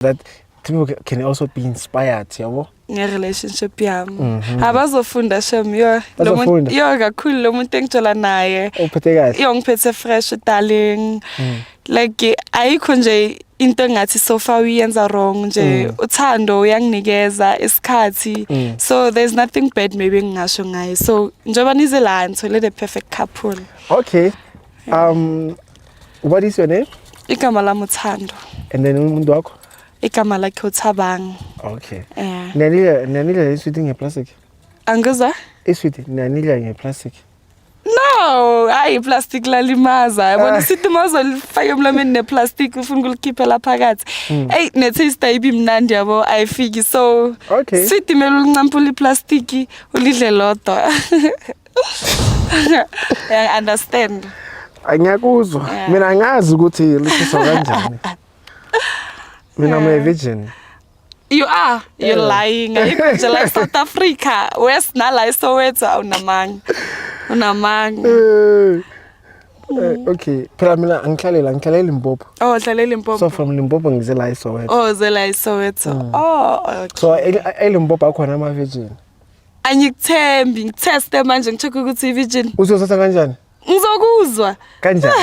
that people ca- can also be inspired yabo nge-relationship yami Mhm. abazofunda shem yo lo muntu- Bazofunda. yo kakhulu lo muntu engitshola naye uphethe kahle Mm. yo ngiphethe fresh darling like ayikho nje into engathi so far uyenza wrong nje Mm. uthando uyanginikeza isikhathi Mm. so there's nothing bad maybe engingasho ngaye so njengoba nize la ngithole the perfect couple okay Um, what is your name? Igama lami uThando. And then umuntu wakho? Igama lakhe uThabang. Okay. Yeah. Nanile nanile iswiti ngeplastic. Angiza? Iswiti nanile ngeplastic. No, hayi iplastic lalimaza. Yabona ah. sithi mazolifaka emlomeni neplastic ufuna ukulikhiphela phakathi. Hmm. Ey ne taste ayibi mnandi yabo ayifiki so. Okay. Sithi mele ulincampula iplastic ulidle lodwa. I understand. Angiyakuzwa. Yeah. Mina ngazi ukuthi lishiso kanjani. Mina I'm a virgin. You are. You're yeah. lying. You're like South Africa. West nala iSoweto awunamanga. Unamanga. Eh. Eh, okay phela mina angihlalela ngihlalela Limpopo oh ngihlalela Limpopo so from Limpopo ngize la eSoweto oh ze la eSoweto mm. oh okay so eLimpopo akhona ama virgin Angikuthembi, ngitheste manje ngicheck ukuthi i-virgin. Uzosatha kanjani? Ngizokuzwa. Kanjani?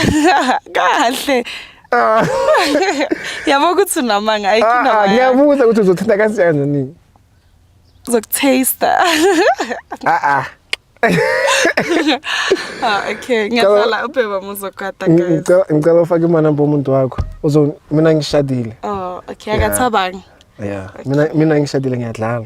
Kahle. Ah. Yabo ukuthi unamanga ayikho ah, ah, namanga. Ngiyabuza ukuthi uzothinta kanjani nini? Uzokutaste. Ah ah. ah okay ngiyazala ubheba muzogada guys ngicela ufake imali namba umuntu wakho uzo mina ngishadile oh okay akathaba yeah mina mina ngishadile ngiyadlala